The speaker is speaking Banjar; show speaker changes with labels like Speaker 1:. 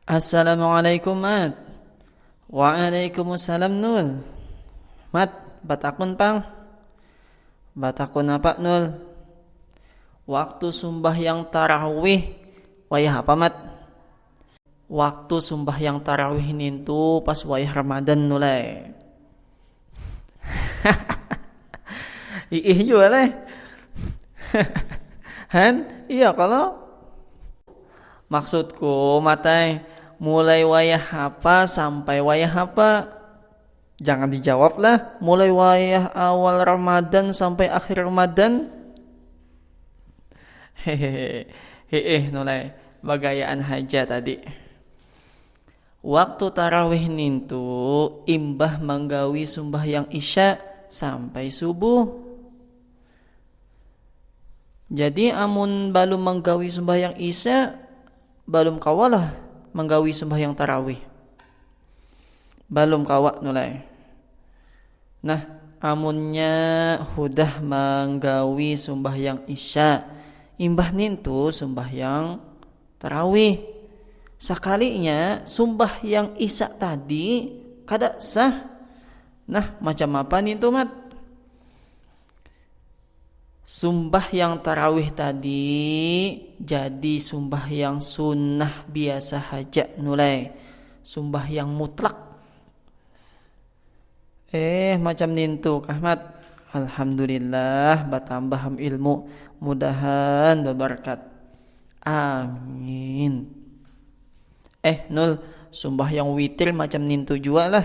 Speaker 1: Assalamualaikum Mat Waalaikumsalam Nul Mat, batakun pang Batakun apa Nul Waktu sumbahyang tarawih Wayah apa Mat Waktu sumbahyang tarawih nintu pas wayah Ramadan tu leh. Iih jua leh. Han, iya kalo? Maksudku matai mulai wayah apa sampai wayah apa? Jangan dijawab lah, mulai wayah awal Ramadan sampai akhir Ramadan. Hehehe, heeh nulai, bagayaan haja tadi. Waktu tarawih nintu imbah manggawi sumbahyang isya sampai subuh. Jadi amun balum manggawi sumbahyang isya, balum kawalah manggawi sumbahyang tarawih. Balum kawa nulai. Nah, amunnya hudah manggawi sumbahyang isya, imbah nintu sumbahyang tarawih. Sakalinya sumbahyang isya tadi kada sah. Nah, macam apa nintu, Mat? Sumbahyang tarawih tadi jadi sumbahyang sunnah biasa haja nulai, sumbahyang mutlak. Eh macam nintu kah Mat. Alhamdulillah batambah am ilmu, mudahan babarkat. Amin. Eh Nul, sumbahyang witir macam nintu jua lah.